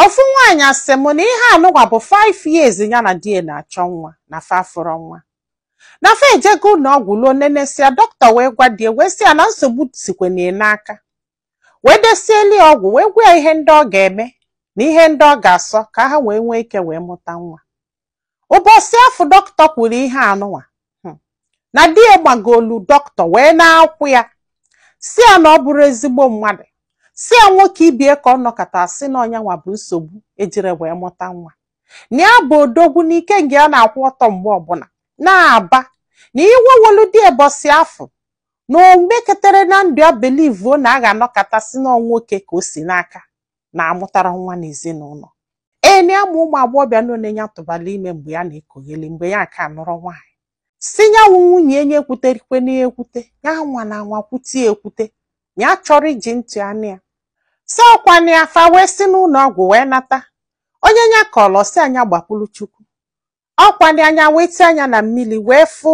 Ofu nwaanyị sị m na ihe anụnwa bụ 5 years ya na di ya na-achọ nwa na fa afụrọ nwa. Na fa ejego ụlọ ọgwụ luo nenesịa doctor wee gwa di ya wee sị ya na nsogbu sikwanụ ya n'aka. Wee desieli ya ọgwụ wee gwa ya ihe ndị ọ ga-eme na ihe ndị ọ ga-asọ ka ha wee nwee ike wee mụta nwa. ụbọsị afụ doctor kwuru ihe anụnwa hmm, na di ya magolu doctor wee na-akwụ ya sị ya na ọ bụrọ ezigbo mmadụ sị ya nwoke ibe ya ka ọ nọkata sị na ọ nyanwa bụ nsogbu e jirọ wee mụta nwa na ya bụ odogwu n'ike nke ya na-akwụ ọtọ mgbe ọbụla na-aba na iwe wolu di ya ụbọsị afụ na o meketarọ na ndụ ya believe na a ga-anọkata sị na ọ nwoke ka o si n'aka na amụtarọ nwa n'ezinụlọ ee na ya ma ụmụ agbọghọbịa ole nya tụbalụ ime mgbe ya na-ekogheli mgbe ya aka anụrọ nwaanyị sị nyanwa wụ nwunye ya nya ekwutekwana ekwute ya nwa na nwa kwute ya ekwute nya achọrọ iji ntị anụ ya sị ọkwanụ ya fa wee si n'ụlọ ọgwụ wee nata onye nya kọlụ sị ya nya gbakwuru chukwu ọkwanụ ya nya wee tie anya na mmiri wee fụ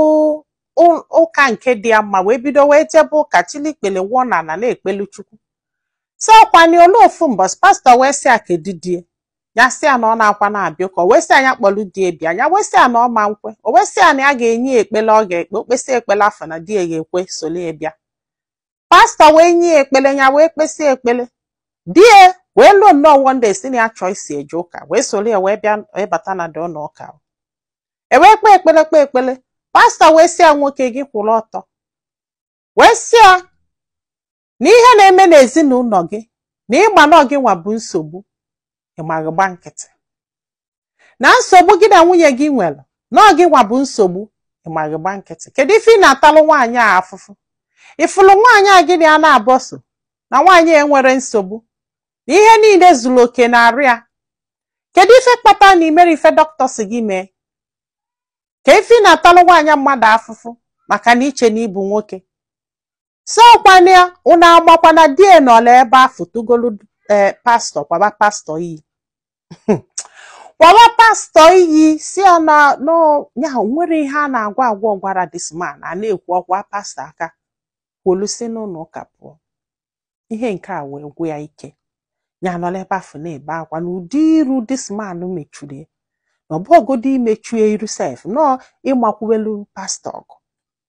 ụ- ụka nke dị ya mma wee bido wee jebe ụka chili ikpele wụọ na ala na-ekpelu chukwu sị ọkwanụ ya luo ofu mbọsị pastọ wee sị ya kedu di ya nya sị ya na ọ naakwanụ abịa ụka o wee sị ya nya kpọlụ di ya bịa nya wee sị ya na ọ ma nkwe o wee sị ya na ya ga-enye ya ekpele ọ ga-ekpe o kpesịa ekpele afụ na di ya ga-ekwe soli ya bịa pastọ wee nye ya ekpele ya wee kpesịa ekpele di ya wee luo nnọọ one day sị na ya chọ iso ya eje ụka wee solu ya wee bịa wee bata nọdụ na ụka e wee kpee ekpele kpee ekpele pastọ wee sị ya nwoke gị kwụrụ ọtọ wee sị ya na ihe na-eme n'ezinụlọ gị na ị ma na ọ gị nwa bụ nsogbu ị ma gị gba nkịtị na nsogbu gị na nwunye gị nwere na ọ gị nwa bụ nsogbu ị ma gị gba nkịtị kedu ife ị na-atalụ nwaanyị a afụfụ ị fụlụ nwaanyị a gị na ya na-agba ọsọ na nwaanyị a enwerọ nsogbu na ihe niile zulu oke na arụ ya kedu ife kpata na i merọ ife doctor sị gị mee kee ife ị na-atalụ nwaanyị mmadụ afụfụ maka na i che na ị bụ nwoke sị ọkwanụ ya unu amakwa na di ya nọlụ ebe afụ tugolu ee pastọ kwaba pastọ iyi kwaba pastọ iyi sị ya na ya nwerọ ihe a na-agwa agwa gwara this man a na-ekwu ọ kwaa pastọ aka kwolu si n'ụlọ ụka pụọ ihe nke a wee gwụ ya ike ya nọlụ ebe afụ na-ebe akwa na ụdị iru this man mechuru ya na ọ bụghọgodo imechu ya iru sef na ọ ịmakwuwelu pastọ ọgụ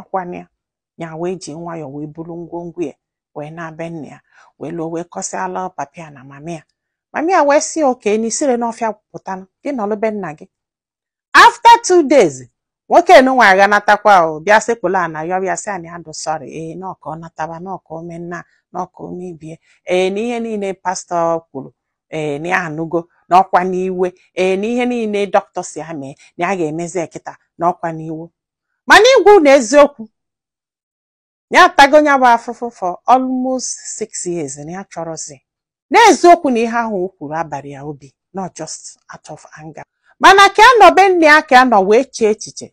ọ kwa na ya wee ji nwayọọ wee buru ngwongwo ya wee naa be nna ya wee luo wee kọsịala papa ya na mama ya mama ya wee sị okay na i sirọ n'ọfịa pụta gị nọlụ be nna gị after two days nwoke nunwa agha natakwa o bịa sekpulu ana yọba ya sị na ya dụ sorry ee na ọ ka ọ nataba na ọ ka o mee nna na ọ ka o mee ibe e ee na ihe niile pastọ kwuru ee na ya anụgo na ọ kwanụ iwe ee na ihe niile dọkịta sị ya mee na ya ga-emezi e kịta na ọ kwanụ iwe mana ịgwa unu eziokwu ya atago ya bụ afụfụ for almost six years na ya achọrọzi n'eziokwu na ihe ahụ o kwuru abala ya obi not just out of anger mana ka ya nọ be nne ya ka ya nọ wee chee echiche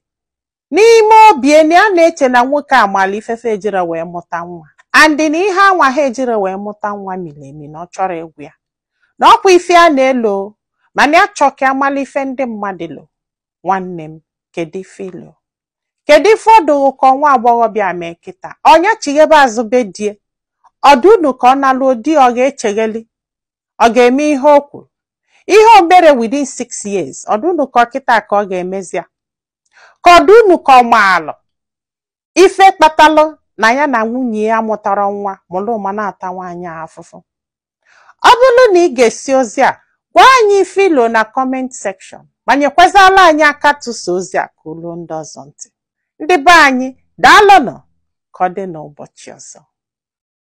n'ime obi na ya na-eche na nwoke a malụ ife ife e jirọ wee mụta nwa and na ihe a nwa ha ejirọ wee mụta nwa miri emi na ọ chọrọ ịgwa ya na ọ kwa ife ya na-elo mana ya chọọ ka ya malụ ife ndị mmadụ lo nwanne m kedu ife i lo kedu ife ọ dụ ka nwa agbọghọbịa mee kịta ọ nya chighaba azụ be di e ọ dụ unu ka ọ naluo di ọ ga-echeghali ọ ga-eme ihe o kwuru ihe o merọ within six years ọ dụ unu ka ọ kịta ka ọ ga-emezi ya ka ọ dụ unu ka ọ maalụ ife kpatalụ na ya na nwunye ya amụtarọ nwa malụ ma na-ata nwaanyị a afụfụ ọ bụrụ na ị gesịa ozi a gwa anyị ife i lo na comment section ma nyekwazala anyị aka tụsaa ozi a ka o luo ndị ọzọ ntị ndị be anyị daalụnụ ka ọ dị n'ụbọchị ọzọ